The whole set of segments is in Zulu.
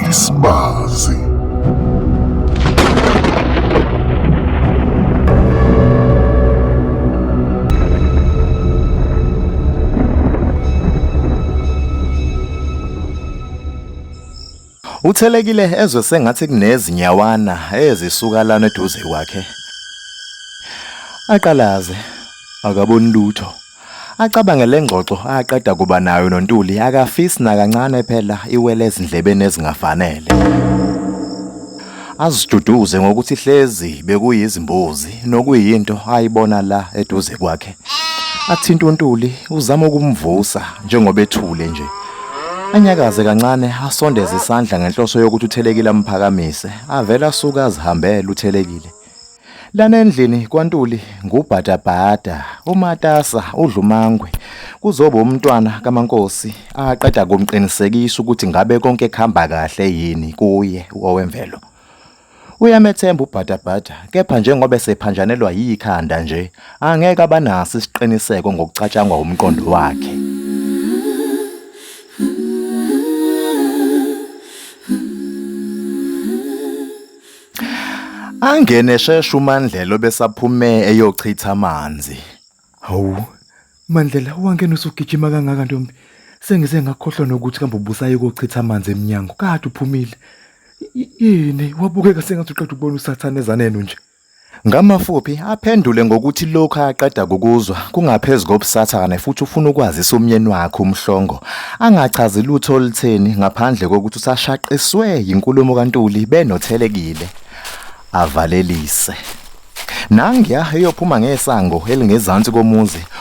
Isbazi. Uthelekile ezwe sengathi kunezinyawana ezisuka lana eduze kwakhe. Aqalaze akaboni lutho. Acabange le ngxoxo aqeda kuba nayo noNtuli akafisi nakancane phela iwele ezindlebeni ezingafanele. Aziduduze ngokuthi hlezi bekuyizimbuzi nokuyinto ayibona la eduze kwakhe. Athinta uNtuli uzama ukumvusa njengoba ethule nje. Anyakaze kancane asondeze isandla ngenhloso yokuthi uthelekile amphakamise avele asuka azihambele uthelekile. Lana endlini kwaNtuli ngubhadabhada, umatasa, udlumangwe. Kuzoba umntwana kaMankosi aqeda kumqinisekisa ukuthi ngabe konke kuhamba kahle yini kuye owemvelo. Uyamethemba ubhadabhada kepha njengoba esephanjanelwa yikhanda nje angeke abanaso isiqiniseko ngokucatshangwa umqondo wakhe. Angene eshesha uMandlela obesaphume eyochitha amanzi. Hawu, Mandlela wangena usugijima kangaka ntombi. Sengize ngakhohlwa nokuthi kambe ubusaye kochitha amanzi emnyango. Kade uphumile. Y- Yini wabukeka sengathi uqeda ukubona usathane ezaneni nje. Ngamafuphi aphendule ngokuthi lokhu aqeda kukuzwa kungaphezu kobusathane futhi ufuna ukwazisa umyeni wakhe uMhlongo angachazi lutho olutheni ngaphandle kokuthi usashaqiswe yinkulumo kaNtuli benothelekile avalelise. Nangiya eyophuma ngesango elingezansi komuzi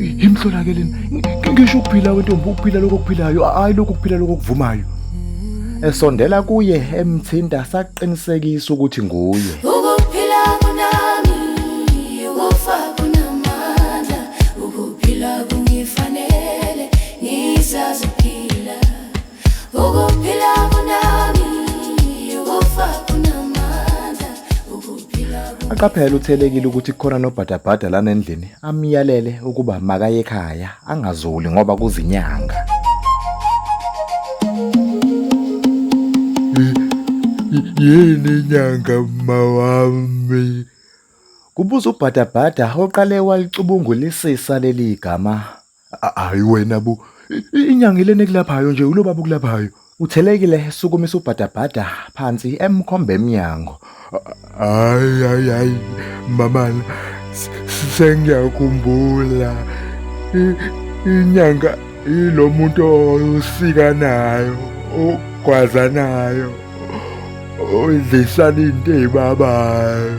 yimhlolakeleni ngisho ukuphila wentombi ukuphila lokho okuphilayo hayi lokho kuphila lokho okuvumayo esondela kuye emthinta saqinisekisa ukuthi nguye ukuphila kunami ukufa kunamandla ukuphila kungifanele ngisaziphila Ukuphila kunami, ukufa kunamandla. Ukuphila kunami. Aqaphele uthelekile ukuthi kukhona nobhadabhada lana endlini amyalele ukuba makaye ekhaya angazuli ngoba kuzinyanga. Yini inyanga mawami? Kubuza ubhadabhada oqale walicubungulisisa leli gama A- Hayi wena bo. I- Inyanga ilena ekulaphayo nje ulo baba okulaphayo. Uthelekile esukumisa ubhadabhada phansi emkhombe emnyango. Hayi hayi hayi mamana s- s- sengiyakhumbula I- inyanga ilo muntu osika nayo ogwaza nayo odlisana into ezibabayo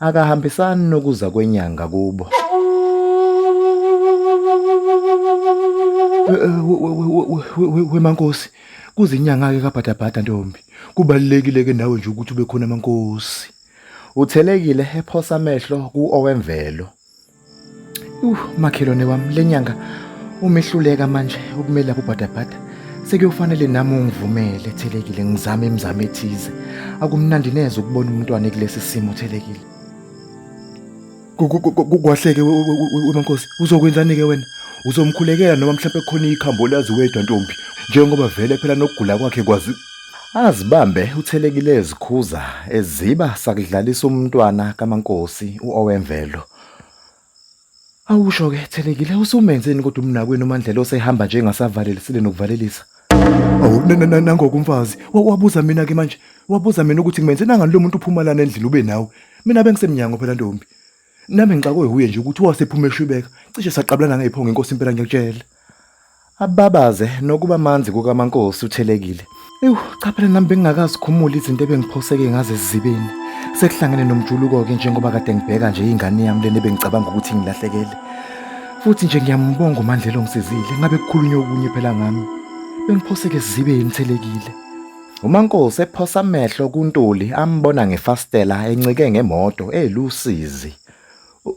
akahambisani nokuza kwenyanga kubo wemankosi kuzinyanga-ke kabhadabhada ntombi kubalulekile-ke nawe nje ukuthi ube khona amankosi uthelekile ephosa amehlo ku-owemvelo Uh, makhelwane wami le nyanga umehluleka manje ukumele lapho bhadabhada sekuyofanele nami ungivumele thelekile ngizame imizamo ethize akumnandi neze ukubona umntwana kulesi simo thelekile kwahleke wemankosi uzokwenzani ke wena uzomkhulekela noma mhlawumbe khona ikhambo lazi wedwa ntombi njengoba vele phela nokugula kwakhe kwazi Azibambe uthelekile ezikhuza eziba sakudlalisa umntwana kaMankosi uOwemvelo. Awusho ke thelekile usumenzeni kodwa umnakwenu uMandlela osehamba nje engasavalelisile nokuvalelisa. Awu nangoku umfazi wabuza mina ke manje wabuza mina ukuthi ngimenzeni angani lo muntu uphuma lana endlini ube nawe. Mina bengisemnyango phela ntombi. Nami ngixakwe wuye nje ukuthi wasephuma eshwibeka cishe saqabulana ngephongo inkosi impela ngiyakutshela. Ababaze nokuba manzi kukaMankosi uthelekile. Ewu cha phela nami bengingakazikhumuli izinto ebengiphoseke ngazo ezibeni. Sekuhlangene nomjuluko-ke njengoba kade ngibheka nje ingane yami lena ebengicabanga ukuthi ngilahlekele. Futhi nje ngiyambonga uMandlela ongisizile ngabe kukhulunywa okunye phela ngami. Bengiphoseke ezibeni thelekile. UMaNkosi ephosa amehlo kuNtuli ambona ngefastela encike ngemoto elusizi.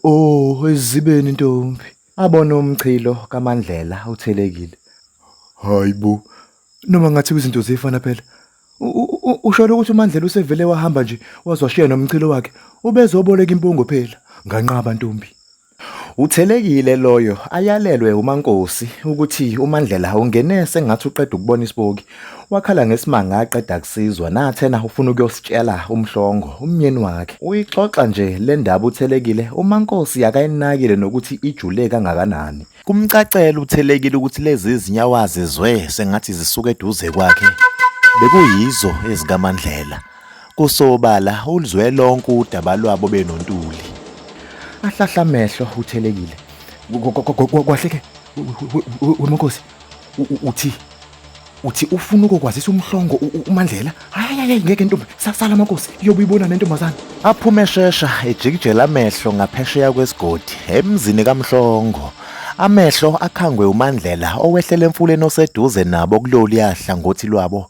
Oh, ezibeni ntombi. Abona umchilo kaMandlela uthelekile. Hayibo. Noma ngathi izinto zifana phela. Usholo ukuthi uMandlela usevele wahamba nje wazwashiya nomchilo wakhe ubezoboleka impungo phela nganqaba ntombi. Uthelekile loyo ayalelwe uMaNkosi ukuthi uMandlela ungene sengathi uqeda ukubona isipoki wakhala ngesimanga aqeda kusizwa nathena ufuna ukuyositshela umhlongo umnyeni wakhe uyixoxa nje le ndaba uthelekile uMaNkosi akayinakile nokuthi ijule kangakanani kumcacela uthelekile ukuthi lezi zinyawazi zwe sengathi zisuka eduze kwakhe bekuyizo ezikaMandlela Kusobala uluzwe lonke udaba lwabo benontuli. Ahlahla amehlo uthelekile. Kwahleke weMnkosi uthi uthi ufuna ukukwazisa umhlongo uMandlela. Hayi hayi ngeke ntombi sasala makosi iyobe ibona nentombazana. Aphume eshesha ejikijela amehlo ngaphesheya kwesigodi emzini kaMhlongo. Amehlo akhangwe uMandlela owehlele emfuleni oseduze nabo kuloluyahla ngothi lwabo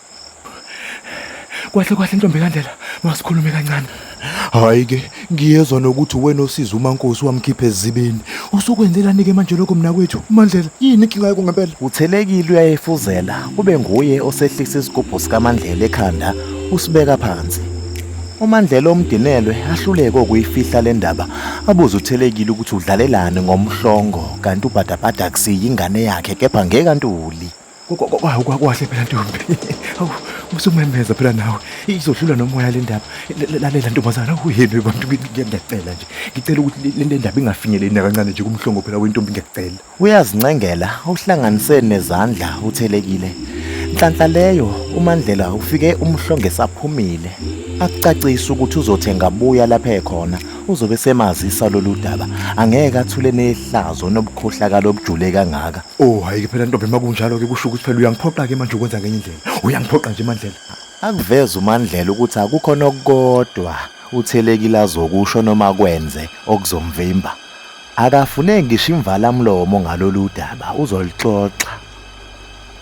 Kwahle kwahle ntombi kaNdlela, masikhulume kancane. Hayi ke, ngiyezwa nokuthi wena osiza uMankosi wamkhipha ezibini. Usukwenzelani ke manje lokho mina kwethu? Mandlela, yini inkinga yakho ngempela? Uthelekile uyayefuzela, kube nguye osehlisa isigubhu sikaMandlela ekhanda, usibeka phansi. UMandlela omdinelwe ahluleke ukuyifihla le ndaba, abuze uthelekile ukuthi udlalelani ngomhlongo kanti ubhadabhada akusiyi ingane yakhe kepha ngekantuli. kwakukahle phela ntombi awu usumemeza phela nawe izodlula nomoya le ndaba lalela ntombazana awuheni bantu ngiyacela nje ngicela ukuthi le ndaba ingafinyeleli nakancane nje kumhlongo phela wentombi ngiyacela uyazincengela uhlanganise nezandla uthelekile nhlanhla leyo umandlela ufike umhlonge saphumile akucacisa ukuthi uzothenga buya lapha ekhona uzobe semazisa lolu daba angeke athule nehlazo nobukhohlakala obujule kangaka oh hayi ke phela ntombi makunjalo ke kusho ukuthi phela uyangiphoqa ke manje ukwenza ngenye indlela uyangiphoqa nje mandlela akuveza umandlela ukuthi akukho nokukodwa uthelekile azokusho noma kwenze okuzomvimba akafuneki ngisho imvalamlomo ngalolu daba uzolixoxa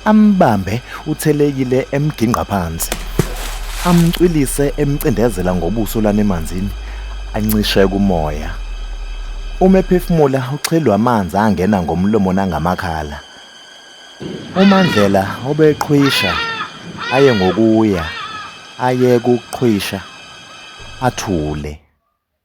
Ambambe uthelekile emgingqa phansi. Amcwilise emcindezela ngobuso lanemanzini ancishe kumoya. Uma ephefumula uxhelwa amanzi angena ngomlomo nangamakhala. UMandlela obeqhwisha aye ngokuya aye kuqhwisha athule.